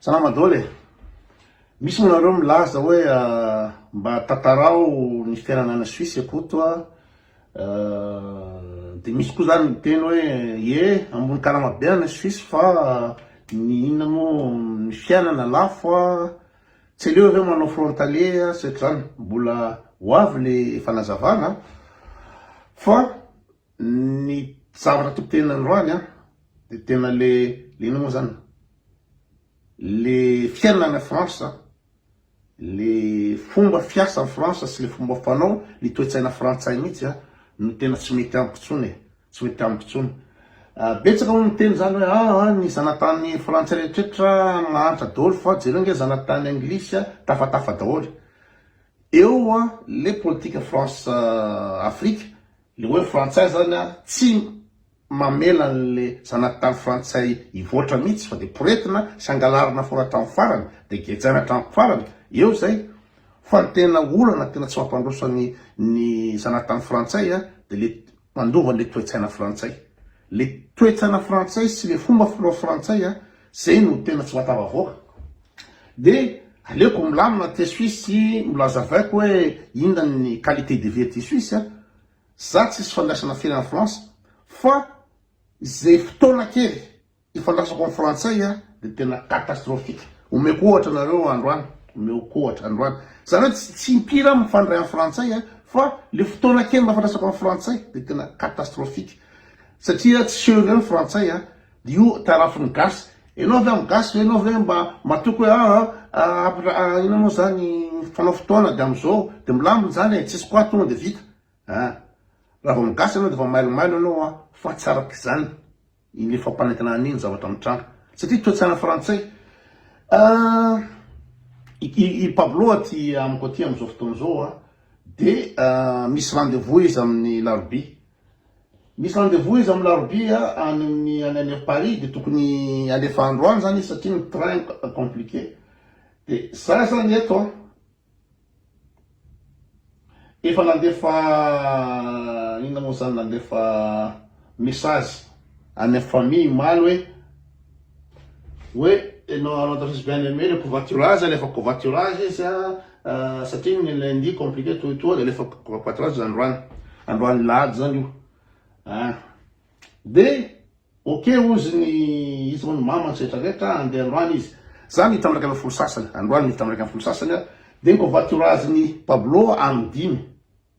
Salama dôla e! Misy moa nareo milaza hoe mba tantarao ny fiainana any Suisse akoto a, dia misy koa zany miteny hoe ie ambony karama be any Suisse fa ny inona moa ny fiainana lafo a, tsy aleo ve manao frontalier a sy ohatr'izany, mbola ho avy le fanazavana fa. Ny zavatra to tena androany an de tena le le inona moa zany le fiainana any France le fomba fiasa any France sy le fomba fanao ny toe-tsaina frantsay mihitsy an no tena tsy mety amiko tsony e tsy mety amiko tsony betsaka moa miteny zany hoe aa ny zanatany frantsay rehetrretra mahantra daoly fa jereo nge zanatany anglisy an tafatafa daoly eo an le politika France Afrique Le hoe frantsay zany a tsy mamela anle zanaky tany frantsay hivoatra mitsy fa de poretina sy angalarina fona hatram farany de gejaina hatram farany eo zay fa ny tena olana tena tsy mampandroso ny zanaky tany frantsay a de le mandova anle toetsaina frantsay Le toetsana frantsay sy le fomba filao frantsay a zay no tena tsy mahatafavoaka de aleoko milamina aty suisse sy mbola azavaiko hoe inona ny qualité de vie aty suisse a za tsisy fandraisana firy any france fa zay fotoana kely ifandraisako am frantsay a de tena catastrophique omeko ohatra nareo androany omeko ohatra androany zany hoe tsy tsy impiry aho mifandray am frantsay a fa le fotoana kely mba ifandraisako am frantsay de tena catastrophique Satria tsy seho indray ny frantsay a! Io tarafin'ny gasy. Enao ve amin'ny gasy ve enao ve mba matoky hoe aa après inona moa zany fanao fotoana dia amin'izao dia milamina izany e! Tsisy quoi tonga dia vita a! Raha vao amin'ny gasy enao dia efa mailomailo enao a! Fa tsy araka izany ilay fampanentanana an'iny zavatra mitranga satria toe-tsaina frantsay a! I Pablo aty amiko aty amin'izao fotoana izao a dia misy rendez-vous izy amin'ny larobia. Misy rendez-vous izy amin'ny larobia any amin'ny any any Paris dia tokony alefa androany zany izy satria ny train compliqué de za zany eto an efa nandefa inona moa zany nandefa message any am famille omaly hoe hoe enao anao tafis bien aimé le covoiturage alefa covoiturage izy a satria ny lundi compliqué toy toa de alefa covoiturage androany androany lahady zany io a de ok ozy ny izy ho ny mama ny setra rehetra andeha androany izy zany hitambaraka amin'ny folo sasany androany ny hitambaraka amin'ny folo sasany a de ny covoiturage ny Pablo amin'ny dimy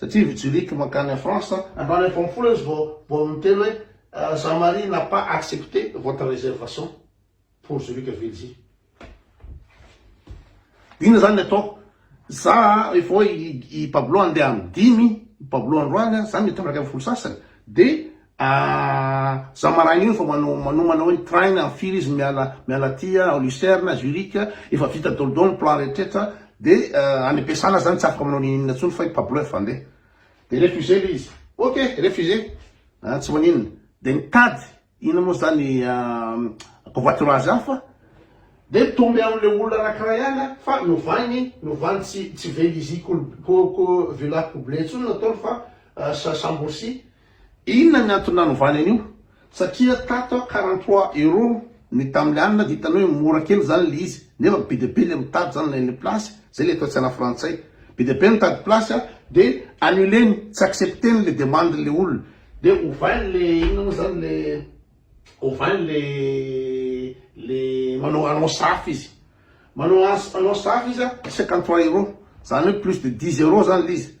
Satria vy Zurich mankany à France, androany efa am folo izy vao baolina ny telo hoe Jean Marie n'a pas accepté votre réservation pour Zurich Vilzy. Inona zany ny atao? Za efa hoe i Pablo andeha am dimy, Pablo androany, za mitandraka am folo sasany de. Ahh za maraina io efa manao manomana hoe ny train amin'ny firy izy miala miala aty ao Lucerne, Zurich, efa vita daholo daholo ny plan rehetrretra de any am-piasana zany tsy afaka manao n'inon'inona intsony fa efa bluff andeha de refuser le izy ok refuser ah tsy maninona de mitady inona moa zany covoiturage hafa de mitombe amin'le olona anankiray ihany an fa novany novany tsy tsy veliziko ko ko villa couble intsony ny ataony fa sa sambourcy Inona ny antony nanovany an'io? Satria tato a quarante trois euros ny taminy alina dia hitanao hoe mora kely zany le izy nefa be dia be le mitady zany ilay le place zay le toetsaina frantsay be dia be ny mitady place a de annuleny tsy accepteny le demande le olona de ovainy le inona moa zany le ovainy le le manao annonce hafa izy manao annonce hafa izy a cinquante trois euros zany hoe plus de dix euros zany le izy.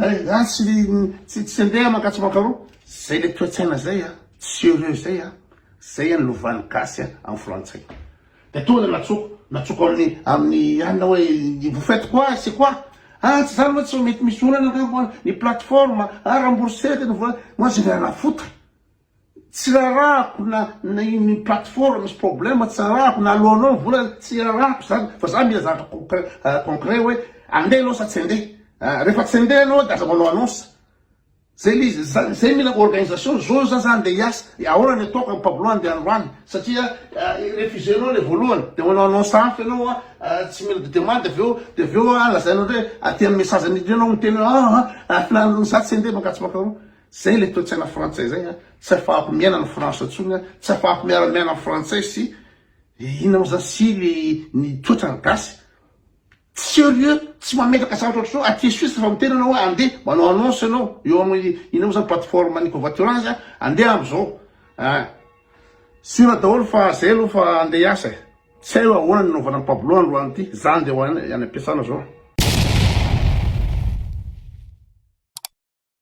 Hay nga tsy ry tsy tsy andeha maka tsy maka roa zay le toetsaina zay a tsy heureux zay a zay any lovany gasy a am frantsay de tonga de natsoko natsoko aminy aminy anina oe vous faites quoi c'est quoi a tsy zany moa tsy mety misy olana angamba ny plateforme a rembourser tena vola moa zay le anafota. Tsy rarahako na na iny plateforme misy problème tsy rarahako na aloanao ny vola tsy rarahako izany fa za mila zavatra concret concret hoe andeha anao sa tsy andeha a rehefa tsy andeha anao de aza manao annonce zay le izy za zay mila organisation zao za za andeha hiasa de ahoana ny ataoko amin'i Pablo andeha androany satria refuse nao le voalohany de manao annonce hafa ianao a tsy mila de demande avy eo de avy eo a lazainao indray aty amin'ny message miditra eo ianao miteny hoe aa a filan'ny za tsy andeha mankato sy mankaroa. Zay ilay toetsaina frantsay zay a, tsy afahako miaina any France tsony a, tsy afahako miara miaina am frantsay sy inona mo zany sy le ny toetrany gasy serieux tsy mametraka zavatra ohatry zao aty suisse refa miteny anao oe ande manao annonce anao eo am inona mo zany plateforme ny covoiturage a ande am zao a sira daholo fa zay aloha fa ande hiasa e tsy hay oe ahoana ny anaovana am pablo androany ty za ande ho any am piasana zao.